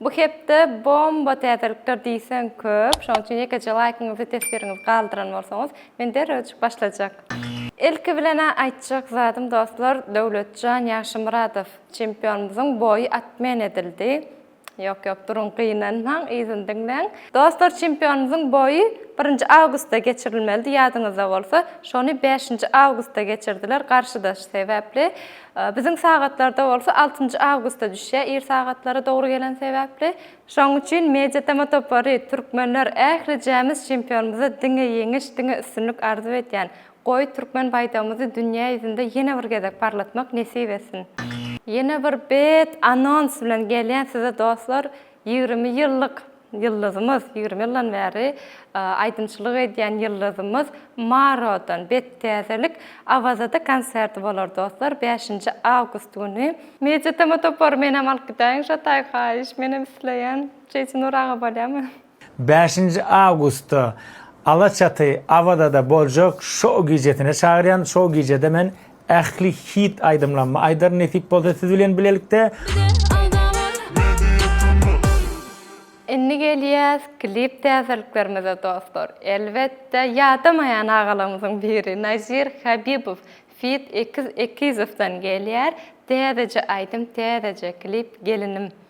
Bu hepde bomba täzelikler diýseň köp, şonuň üçin ýekeje laýkyňyzy, teswiriňizi galdyran bolsaňyz, men derrewjik başlajak. Ilki bilen-ä aýtjak zadym dostlar, Döwletjan Ýagşymyradow çempionymyzyň boýy atmen edildi. Ýok, ýok, duruň, gynanmaň, yzyny diňläň. Dostlar, çempionymyzyň boýy birinji awgustda geçirilmelidi, ýadyňyzda bolsa, şony bäşinji awgustda geçirdiler, garşydaş sebäpli. Biziň sagatlarda bolsa altynjy awgustda düşýär, ir sagatlary dogry gelen sebäpli. Şonuň üçin Media-Tama topary, türkmenler ählijämiz çempionymyza diňe ýeňiş, diňe üstünlik arzuw edýän. Goý, türkmen baýdagymyzy dünýä ýüzünde ýene bir gezek parlatmak nesip etsin! Ýene bir bet anons bilen gelýän size dostlar, Ýigrimi ýyllyk ýyldyzymyz, ýigrimi ýyldan bäri aýdymçylyk edýän ýyldyzymyz Marodan bet täzelik Awazada konserti bolar dostlar bäşinji awgust güni. Media tm topary menem alyp gidäýiň şo taýy haýyş menem isleýän Jeýsunyr aga bolýamy. Bäşinji awgustda Alaçaty Awazada boljak şou gijesine çagyrýan şou gijede men Ähli hit aýdymlarymy aýdaryn nesip bolsa siz bilen bilelikde. Indi gelýäs klip täzeliklerimize dostlar. Elbetde ýadamaýan agalarymyzyň biri Nazir Habibow feat Ekiz Ekizowdan gelýär. Täzeje aýdym täzeje klip gelinim.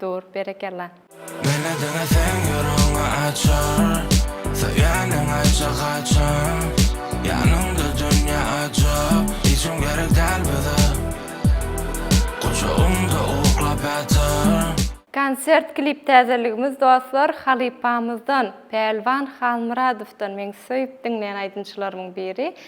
Dur, berekella. Meni diňeseň ýüregiňi açar Söýeniň aýtja haçan Ýanyňda dünýe ajap Hiçim gerek däl bize Gujagyňda uklap ýatar. Konsert klip täzeligimiz dostlar halypamyzdan Pälwan Halmyradowdan meň söýüp diňleýän aýdymçylarymyň biri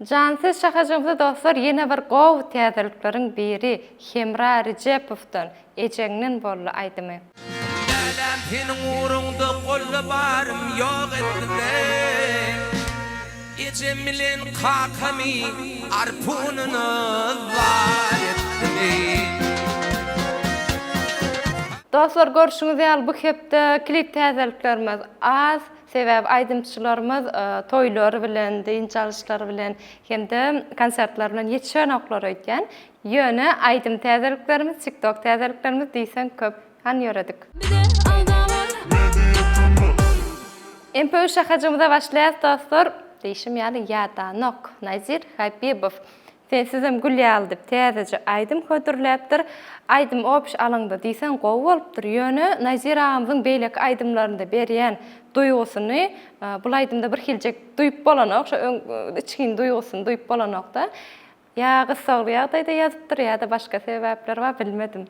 Jan siz şahajyňzy dostlar ýene bir gowy täzelikleriň biri Hemra Rijepowdan Ejeňden boldy aýdymy. Lälem seniň ugrunda golla barym ýok etdiler Ejem bilen kakamy arpunyna zar etdiler. Dostlar görşüňiz ýaly bu hepde klip täzeliklerimiz az. Sebäbi aýdymçylarymyz toýlary bilen, dynç alyşlary bilen hem-de konsertler bilen ýetişenoklar öýdýän. Ýöne aýdym täzeliklerimiz, TikTok täzeliklerimiz diýseň köp. Hany ýöredik. Mpu şahajymyza başlaýas dostlar. Diýşim ýaly ýadanok. Nazir Habibow. Sensizem gül ýaly diýip täzeje aýdym hödürläpdir. Aýdym opiş alaňda diýseň gowy bolupdyr. Ýöne Nazir agamyzyň beýleki aýdymlarynda berýän duýgusyny bul aýdymda bir hiljek duýup bolanok. Şo öň içgin duýgusyny duýup bolanokda. Ýa gyssagly ýagdaýda ýazypdyr ýa-da başga sebäpler bar bilmedim.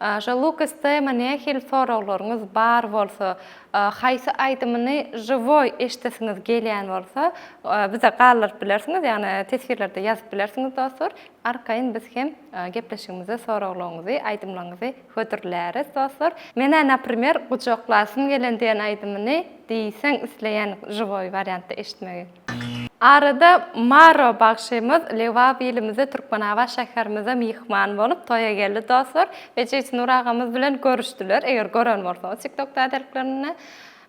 Aja Lukas Tema nähili soraglaryňyz bar bolsa, haýsy aýdymyny žiwoý eşidesiňiz gelýän bolsa, bize galdyryp bilersiňiz, ýagny teswirlerde ýazyp bilersiňiz dostlar. Arkaýyn biz hem gepleşigimize soraglaryňyzy, aýdymlaryňyzy hödürläris dostlar. Menä naprimer Gujaklasym gelen diýen aýdymyny diýseň isleýän žiwoý wariantda eşitmegi. Arada Maro bagşymyz Lebap ilimize Türkmenabat şäherimize myhman bolup toýa geldi dostlar we Jeýtynur agamyz bilen görüşdiler eger gören bolsaňyz tiktok täzeliklerinde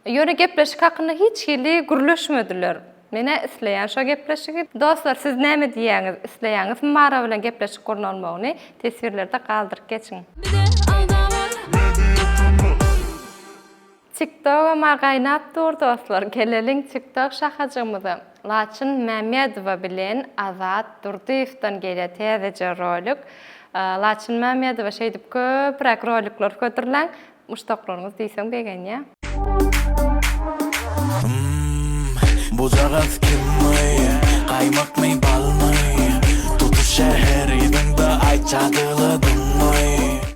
ýöne gepleşik hakynda hiç hili gürleşmediler menä isleýän şo gepleşigi dostlar siz näme diýýäňiz isleýäňizmi Maro bilen gepleşik gurnalmagyny teswirlerde galdyryp geçiň. Tiktogama gaýnap dur dostlar geleliň tiktok şahajygymyza Laçyn Mämmedowa bilen Azat Durdyýewden gelýär täzeje rolik Laçyn Mämmedowa şeýdip köpräk rolikler hödürläň muşdaklaryňyz diýseň begenýä. Hmmm bujagaz kimmy gaýmakmy balmy tutuş şäheri diňda aýt jadyly dynny.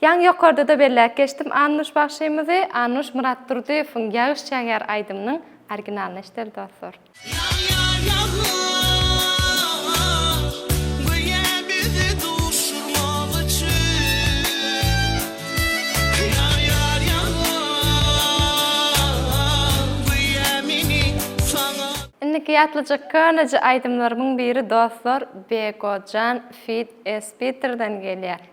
Ýaňy ýokarda-da belläp geçdim, Annuş bagşymyzy Annuş Myratdurdyýewiň Ýagyş ýagýar aýdymynyň originalyny eşideli dostlar. Ýag ýag ýagyş göýä bizi duşurmak üçin Ýag ýag ýagyş göýä meni saňa. Indiki ýatlyjak köneje aýdymlarymyň biri dostlar Begojan feat Espiterden gelýär.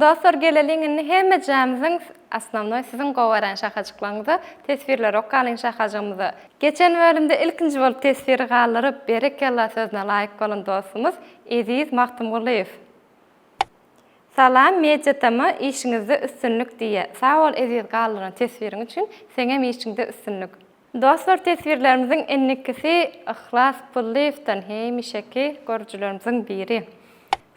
Dostlar geleliň indi hemmejämiziň osnovnoý siziň gowaran şahajyklaryňyza teswirleri okalyň şahajygymyza. Geçen bölümde ilkinji bolup teswiri galdyryp berekella sözüne laýyk bolan dostumyz Eziz Magtymgulyýew. Salam Media TM işiňizde üstünlik diýýä. Sag bol Eziz galdyran teswiriň üçin seňem işiňde üstünlik. Dostlar teswirlerimiziň innikisi Yhlas Pullyýewden hemişeki görüjilerimiziň biri.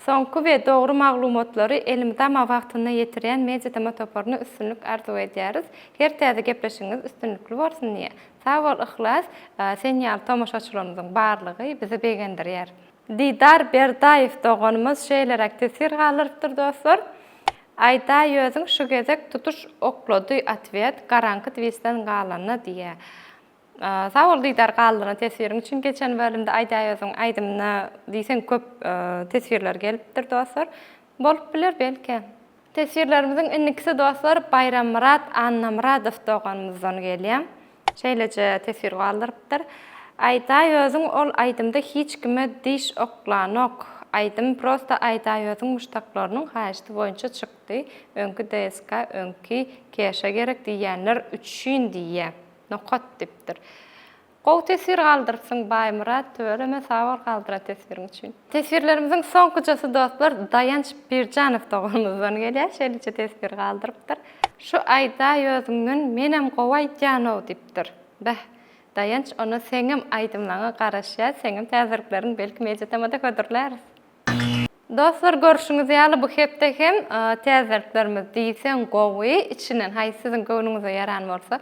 Soňky we dogry maglumatlary elimizama wagtynda ýetirýän Mediatema toparyna üstünlik arzuw edýäris. Her täze gepleşigiňiz üstünlikli bolsun diýä. Sag bol Yhlas, sen ýaly tomaşaçylarymyzyň barlygy bizi begendirýär. Didar Berdaýew doganymyz şeýleräk teswir galdyrypdyr dostlar. Aýda ýözüň şu gezek tutuş oklady otwet garaňky twisden galanda diýä. Sag bol Didar galdyryna teswiriň üçin geçen bölümde Aýdaýöziň aýdymyna diýseň köp teswirler gelipdir dostlar. Bolup biler belki. Teswirlerimiziň indikisi dostlar Baýrammyrat Annamyradow doganymyzdan gelýä. Şeýleje teswir galdyrypdyr. Aýdaýözüň ol aýdymda hiç kime diş oklanok. Aýdym prosta Aýdaýözüň muşdaklarynyň haýyşty boýunça çykdy. Öňki DSK öňki keşa gerek diýýänler üçin diýýä. Nokat dipdir. Gowy teswir galdyrypsyň Baýmyrat, tüweleme sag bol galdyran teswiriň üçin. Teswirlerimiziň soňkujasy dostlar Daýanç Birjanow doganymyzdan gelýär, şeýleje teswir galdyrypdyr. Şu aýdaý özüňden menem gowy aýdýanow diýipdir. Beh, Daýanç onda seňem aýdymlaňa garaşýas, seňem täzelikleriň belki mediatemada hödürläris. Dostlar görşüňiz ýaly bu hepde hem täzeliklerimiz diýseň gowy, içinden haýsy siziň göwnüňize ýaran bolsa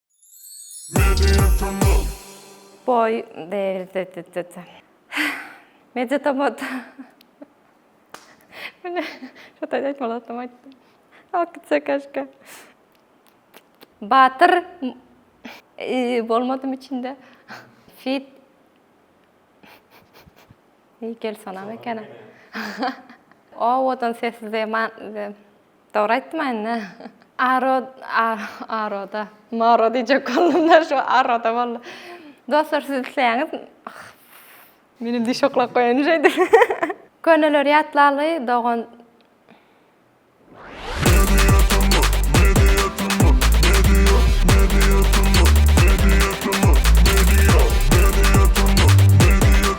Boý degildi. Media tomat. Mine, şu taýda aýtmaly zatym aýtdym. Alyp gitse kaşka. Batyr bolmadym içinde. Fit. Nikel sanam ekeni. Owadan sesli zeman. Dogry aýtdym anda. Aro aroda. Maro diýjek boldumda şu aroda boldy. Dostlar siz isleýäňiz Menem diş oklap goýaýyn şeýdip. Köneleri ýatlaly dogan.